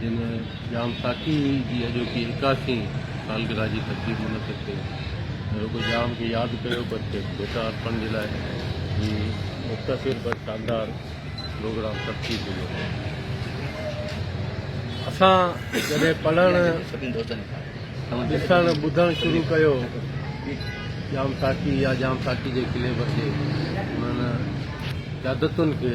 جن ڄام ساقي جي اڄوڪي ايڪاھٺين سالگرهه جي تقريب منعقد ڪئي ۽ رڳو ڄام کي ياد ڪيو پر کيس ڀيٽا ارپڻ جي لاء هي مختصر پر شاندار پروگرام ترتيب ڏنو ويو. اسان جڏهن پڙهڻ، ڏسڻ، ٻڌڻ شروع ڪيو ڄام ساقي يا ڄام ساقي جي قلعي ڀر جي انهن قيادتن کي،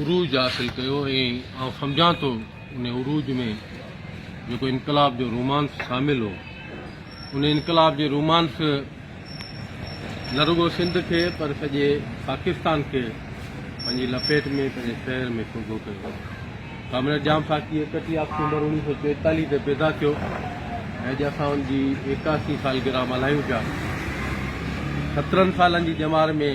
عروج حاصل ڪيو ۽ آئون سمجهان ٿو ان عروج ۾ جيڪو انقلاب جو رومانس شامل هو ان انقلاب جي رومانس نه رڳو سنڌ کي پر سڄي پاڪستان کي پنهنجي لپيٽ ۾ پنهنجي شهر ۾ سوگهو ڪيو ڪامريڊ ڄام ساقي اڪٽيهه آڪٽوبر اوڻيهه سو چوئيتاليهه تي پيدا ٿيو ۽ اڄ اسان ان جي ايڪاسي سالگرهه ملهايون پيا سترهن سالن جي ڄمار ۾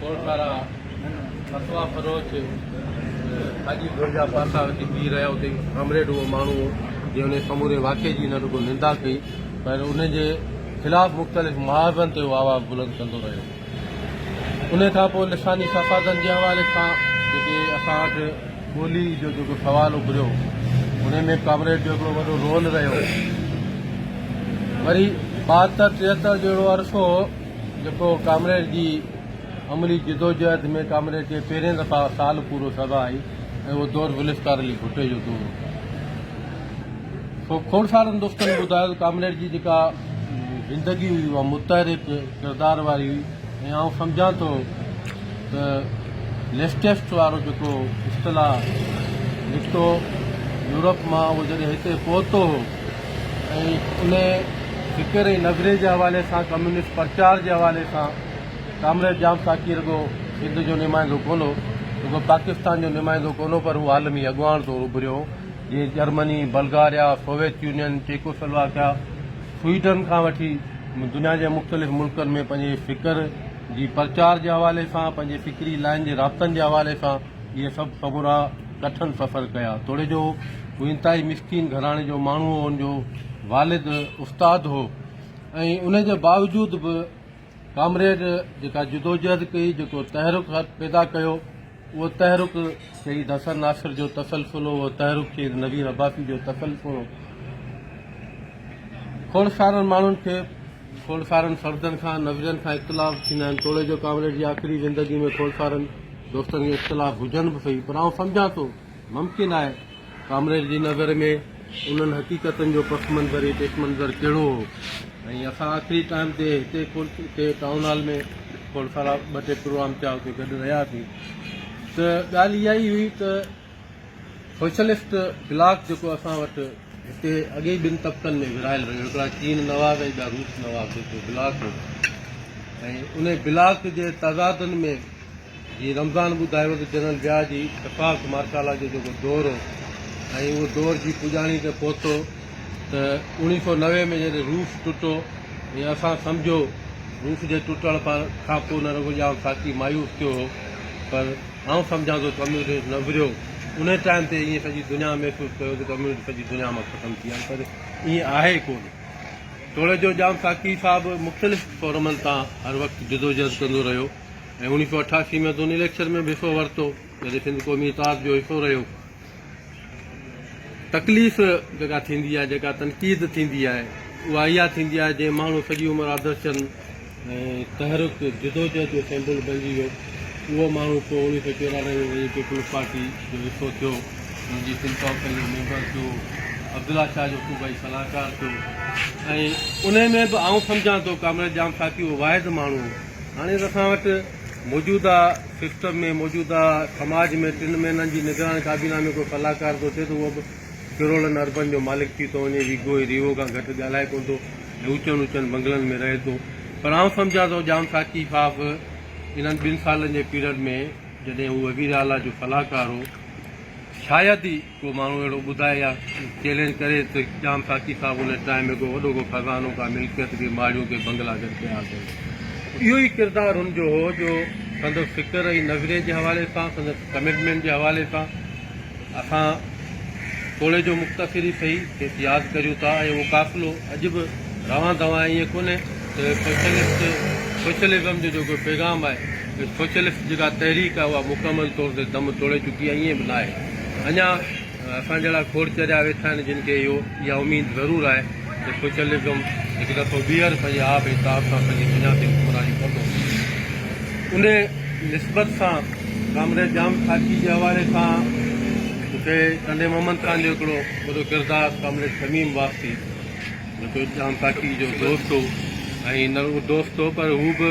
ڪوڙڪارا، فتوا فروش، ساڳي ڌر جا پاسا اچي بيهي رهيا. اتي ڪامريڊ اهو ماڻهو هو، جنهن انهيء سموري واقعي جي نه رڳو نندا ڪئي، پر ان جي خلاف مختلف محاذن تي اهو آواز بلند ڪندو رهيو. انهيء کان پوء لساني فسادن جي حوالي سان جيڪي اسان وٽ ٻوليء جو جيڪو سوال اڀريو، انهيء ۾ ڪامريڊ جو هڪڙو وڏو رول رهيو. وري ٻاهتر ٽيهتر جو اهڙو عرصو هو، جيڪو ڪامريڊ جي عملي جدوجهد ۾ ڪامريڊ کي پهرين دفعا سال پورو سزا آئي ۽ اهو دور ذوالفقار علي ڀٽي جو دور هو کوڙسارن دوستن ٻڌايو ته ڪامريڊ جي جيڪا زندگي هئي اها متحرڪ ڪردار واري هئي ۽ آئون سمجهان ٿو ته ليسٽيسٽ وارو جيڪو اصطلاح نڪتو يورپ مان اهو جڏهن هتي پهتو هو ۽ ان فڪر ۽ نظريي جي حوالي سان ڪميونسٽ پرچار جي حوالي سان ڪامريڊ ڄام ساقي رڳو سنڌ جو نمائندو ڪونه هو، رڳو پاڪستان جو نمائندو ڪونه هو پر هو عالمي اڳواڻ طور اڀريو هو، جيئن Germany, Bulgaria, Soviet Union, Czechoslovakia, Sweden کان وٺي دنيا جي مختلف ملڪن ۾ پنهنجي فڪر جي پرچار جي حوالي سان، پنهنجي فڪري لائين جي رابطن جي حوالي سان، اهي سڀ سمورا ڪٺن سفر ڪيا. توڙي جو هو انتهائي مسڪين گهراڻي جو ماڻهو هو، ان جو والد استاد هو ۽ ان جي باوجود به ڪامريڊ جيڪا جدوجهد ڪئي، جيڪو تحرڪ پيدا ڪيو، اهو تحرڪ شهيد حسن ناصر جو تسلسل هو، اهو تحرڪ شهيد نوير عباسي جو تسلسل هو. کوڙ سارن ماڻهن کي. کوڙکارن فردن کان نظرين کان اختلاف ٿيندا آهن توڙي جو ڪامريڊ جي آخري زندگي ۾ کوڙکارن دوستن کي اختلاف هجن به سهي پر آئون سمجهان ٿو ممڪن آهي ڪامريڊ جي نظر ۾ انهن حقيقتن جو پس منظر ۽ پيش منظر ڪهڙو هو ۽ اسان آخري ٽائيم تي هتي هتي ٽائون هال ۾ کوڙکارا ٻه ٽي پروگرام ٿيا هتي گڏ رهياسين ته ڳالهه اها ئي هئي ته سوشلسٽ بلاڪ جيڪو اسان وٽ هتي اڳي ئي ٻن طبقن ۾ ورهايل رهيو، هڪڙا چين نواز ۽ ٻيا روس نواز جيڪو بلاڪ هو ۽ ان بلاڪ جي تضادن ۾ جيئن رمضان ٻڌايو ته جنرل ضياء جي اتفاق مارڪالا جو جيڪو دور هو ۽ اهو دور جي پڄاڻي تي پهتو ته اوڻيهه سؤ نوي ۾ جڏهن روس ٽٽو ۽ اسان سمجهو روس جي ٽٽڻ کانپوء نه رڳو ڄام ساقي مايوس ٿيو هو پر آئون سمجهان ٿو ته ڪميونسٽ نه ورهيو، انهيء ٽائيم تي ائين سڄي دنيا محسوس ڪيو ته ڪميونسٽ سڄي دنيا مان ختم ٿي ويا آهن، پر ائين آهي ڪونه. توڙي جو ڄام ساقي صاحب مختلف فورمن تان هر وقت جدوجهد ڪندو رهيو ۽ اوڻيهه سؤ اٺاسي ۾ دوني ليڪچر ۾ به حصو ورتو، جڏهن سنڌ قومي اتحاد جو حصو رهيو. تڪليف جيڪا ٿيندي آهي، جيڪا تنقيد ٿيندي آهي، اها اها ٿيندي آهي جنهن ماڻهو سڄي عمر آدرش چند ۽ تحرڪ جدوجهد جو سيمبل بڻجي ويو، اهو ماڻهو پوء اڻويهه سؤ چورانوي ۾ وڃي پيپلز پارٽي جو حصو ٿيو، ان جي سنڌ ڪائونسل جو ميمبر ٿيو، عبدالله شاهه جو صوبائي صلاحڪار ٿيو ۽ انهي ۾ به آئون سمجهان ٿو ڪامريڊ ڄام ساقي اهو واحد ماڻهو هو. هاڻي اسان وٽ موجوده سسٽم ۾ موجوده سماج ۾ ٽن مهينن جي نگران ڪابينا ۾ ڪو صلاحڪار ٿو اچي ته اهو به ڪروڙن اربن جو مالڪ ٿي ٿو وڃي ويگو ۽ ريوو کان گهٽ ڳالهائي ڪونه ٿو ۽ اوچن اوچن بنگلن ۾ رهي ٿو پر آئون سمجهان ٿو ڄام ساقي صاحب انهن ٻن سالن جي پيرڊ ۾ جڏهن هو وزيراعليٰ جو صلاحڪار هو شايد ئي ڪو ماڻهو اهڙو ٻڌائي يا چئلينج ڪري ته ڄام ساقي صاحب ان ٽائيم ۾ ڪو وڏو ڪو خزانو ڪا ملڪيت ڪي ماڙيون ڪي بنگلا گڏ ڪيا اٿن اهو ئي ڪردار هن جو هو جو سندس فڪر ۽ نظريي جي حوالي سان سندس ڪمٽمينٽ جي حوالي سان اسان ٿوري جو مختصر ئي سهي کيس ياد ڪريون ٿا ۽ اهو قافلو اڄ به روان دوان ائين ڪونهي ته سوشلسٽ سوشلزم جو جيڪو پيغام آهي ته سوشلسٽ جيڪا تحريڪ آهي اها مڪمل طور تي دم توڙي چڪي آهي ائين به ناهي اڃا اسان جهڙا کوڙ چريا ويٺا آهن جن کي اهو اها اميد ضرور آهي ته سوشلزم هڪ دفعو ٻيهر پنهنجي آب اتاب سان پنهنجي بنياد تي حڪمراني ڪندو انهي نسبت سان ڪامريڊ ڄام خاڪي جي حوالي سان مونکي ڪنڊي محمد خان جو هڪڙو وڏو ڪردار ڪامريڊ شميم واسطي جيڪو ڄام خاڪي جو دوست هو ۽ نه رڳو دوست هو پر هو به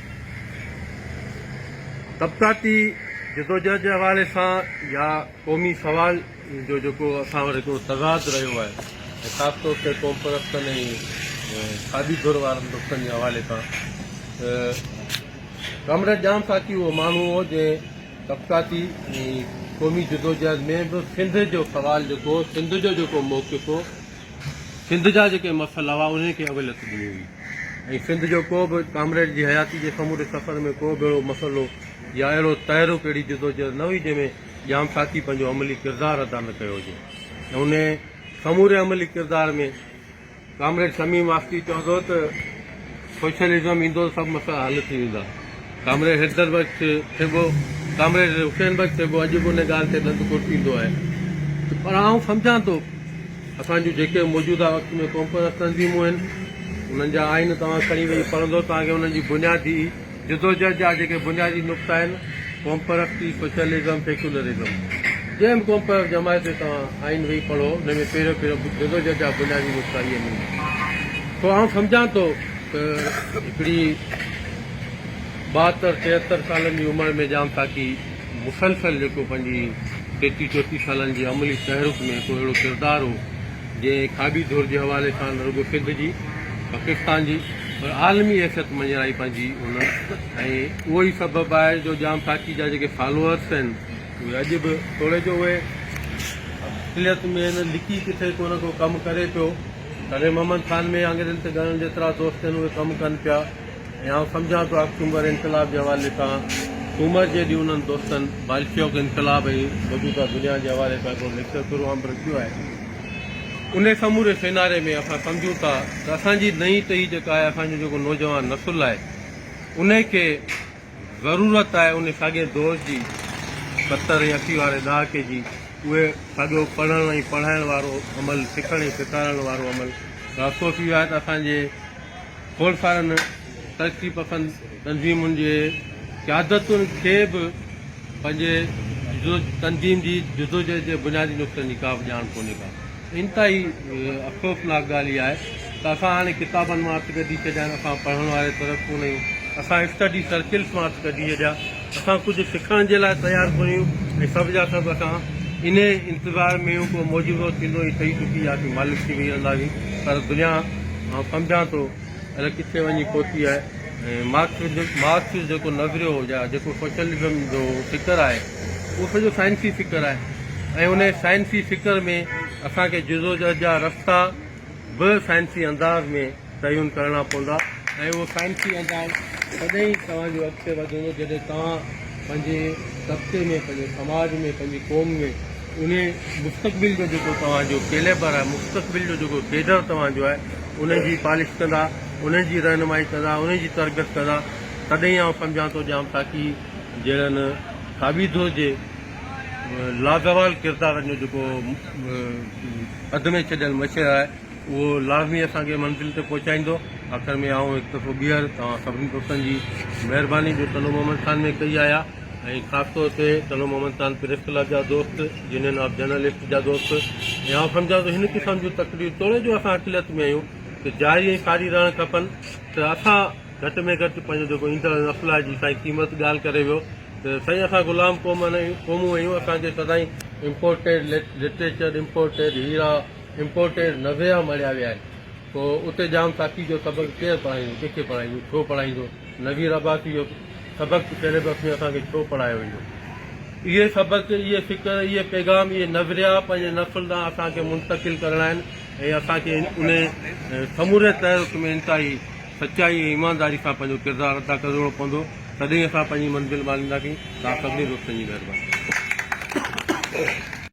طبقاتي جدوجهد جي حوالي سان يا قومي سوال جو جيڪو اسان وٽ هڪڙو تضاد رهيو آهي ۽ خاص طور تي قومپرستن ۽ کاٻي ڌر وارن طبقن جي حوالي سان ته ڪامريڊ ڄام ساقي اهو ماڻهو هو جنهن طبقاتي ۽ قومي جدوجهد ۾ به سنڌ جو سوال جيڪو هو سنڌ جو جيڪو موقف هو سنڌ جا جيڪي مسئلا هئا انهن کي اوليت ڏني هئي ۽ سنڌ جو ڪو به ڪامريڊ جي حياتي جي سموري سفر ۾ ڪو به اهڙو مسئلو يا اهڙو تحرڪ اهڙي جدوجهد نه هئي جنهن ۾ ڄام ساقي پنهنجو عملي ڪردار ادا نه ڪيو هجي ۽ انهي سموري عملي ڪردار ۾ ڪامريڊ شميم واسطي چوندو ته سوشلزم ايندو ته سڀ مسئلا حل ٿي ويندا. ڪامريڊ حيدر بخش ٿيٻو، ڪامريڊ حسين بخش ٿيٻو اڄ به ان ڳالهه تي ڏند ڪرٽيندو آهي. پر آئون سمجهان ٿو اسان جون جيڪي موجوده وقت ۾ قومپرست تنظيمون آهن انهن جا آئين توهان کڻي ويهي پڙهندو توهان کي انهن جي بنيادي جدوجھد جا جيڪي بنيادي نقطا آهن، ڪومپرستي، سوشلزم، سيڪيولرزم. جنهن به ڪومپرست جماعت جو توهان آئين ويهي پڙهو، ان ۾ پهريون پهريون جدوجھد جا بنيادي نقطا اهي ملندا. سو آئون سمجھان ٿو ته هڪڙي ٻاهتر، ٽيهتر سالن جي عمر ۾ ڄام تاڪي مسلسل جيڪو پنهنجي ٽيٽي چوٽي سالن جي عملي تحرڪ ۾ هڪڙو اهڙو ڪردار هو جنهن کاٻي ڌر جي حوالي سان نه رڳو سنڌ جي پاڪستان جي پر عالمي حيثيت مڃرائي پنهنجي ان ۽ اهو ئي سبب آهي جو ڄام ساقي جا جيڪي فالوئرس آهن اهي اڄ به توڙي جو اهي اصليت ۾ آهن لڪي ڪٿي ڪو نه ڪو ڪم ڪري پيو تڏهن محمد خان ۾ آڱرين تي ڳڻڻ جيترا دوست آهن اهي ڪم ڪن پيا ۽ آئون سمجهان ٿو آڪٽومبر انقلاب جي حوالي سان سومر جي ڏينهن انهن دوستن بالشوڪ انقلاب ۽ موجوده دنيا جي حوالي سان هڪڙو ليڪچر پورو عام رکيو آهي. انهي سموري سيناري ۾ اسان سمجهون ٿا ته اسان جي نئين ٽهي جيڪا آهي اسان جو جيڪو نوجوان نسل آهي انهي کي ضرورت آهي انهي ساڳئي دور جي ستر ۽ اسي واري ڏهاڪي جي اهي ساڳيو پڙهڻ ۽ پڙهائڻ وارو عمل سکڻ ۽ سيکارڻ وارو عمل راسو ٿي ويو آهي ته اسان جي خونخوارن ترقي پسند تنظيمن جي قيادتن کي به پنهنجي تنظيم جي جدوجهد جي بنيادي نقطن جي ڪا به ڄاڻ ڪونهي ڪا انتهائي افسوسناڪ ڳالهه اها آهي ته اسان هاڻي ڪتابن مان هٿ ڪڍي ڇڏيا آهن اسان پڙهڻ واري طرف ڪونه آهيون اسان اسٽڊي سرڪلس مان هٿ ڪڍي ڇڏيا اسان ڪجهه سکڻ جي لاء تيار ڪوهيون ۽ سڀ جا سڀ اسان انهي انتظار ۾ هيون ڪو معجزو ٿيندو هي سهي ٽٽي يا اسين مالش ٿي ويهي رهنداسين پر دنيا آئون سمجهان ٿو الئه ڪٿي وڃي پهتي آهي ۽ مارڪسز مارڪسز جيڪو نظريو هو يا جيڪو سوشلزم جو فڪر آهي اهو سڄو سائنسي فڪر آهي ۽ انهي سائنسي فڪر ۾ اسان کي جدوجهد جا رستا به سائنسي انداز ۾ تعين ڪرڻا پوندا ۽ اهو سائنسي انداز تڏهن ئي توهان جو اڳتي وڌندو جڏهن توهان پنهنجي طبقي ۾ پنهنجي سماج ۾ پنهنجي قوم ۾ انهي مستقبل جو جيڪو توهان جو ڪيليبر آهي مستقبل جو جيڪو ڪيڊر توهان جو آهي انهي جي پالش ڪندا انهي جي رهنمائي ڪندا انهي جي تربيت ڪندا تڏهن ئي آئون سمجهان ٿو ڄام تاڪي جهڙن ڪابيدو جي لازوال ڪردارن جو جيڪو اڌ ۾ ڇڏيل مشهد آهي اهو لازمي اسان کي منزل تي پهچائيندو. آخر ۾ آئون هڪ دفعو ٻيهر توهان سڀني دوستن جي مهرباني جو تلو محمد خان ۾ ڪئي آهيا ۽ خاص طور تي تلو محمد خان پريس ڪلب جا دوست، يونين آف جرنلسٽ جا دوست ۽ آئون سمجهان ٿو هن قسم جون تقرير توڙي جو اسان اقليت ۾ آهيون ته جاري ۽ ساري رهڻ کپن ته اسان گهٽ ۾ گهٽ پنهنجو جيڪو ايندڙ نسل آهي جي سائين قيمت ڳالهه ڪري ويو ته سائين اسان غلام قوم قومون آهيون اسان کي سدائين امپورٽيڊ لٽريچر امپورٽيڊ هيرا امپورٽيڊ نويا مڙهيا ويا آهن پوء اتي ڄام تاڪي جو سبق ڪير پڙهائيندو ڪنهن کي پڙهائيندو ڇو پڙهائيندو نوي رباڪي جو سبق پهرين بس ۾ اسان کي ڇو پڙهايو ويندو اهي سبق اهي فڪر اهي پيغام اهي نوريا پنهنجي نسل ڏانهن اسان کي منتقل ڪرڻا آهن ۽ اسان کي ان سموري تحرڪ ۾ انتهائي سچائي ۽ ايمانداري سان پنهنجو ڪردار ادا ڪرڻو پوندو تڏهن اسان پنهنجي منزل مالينداسين تان سڀني دوستن جي مهرباني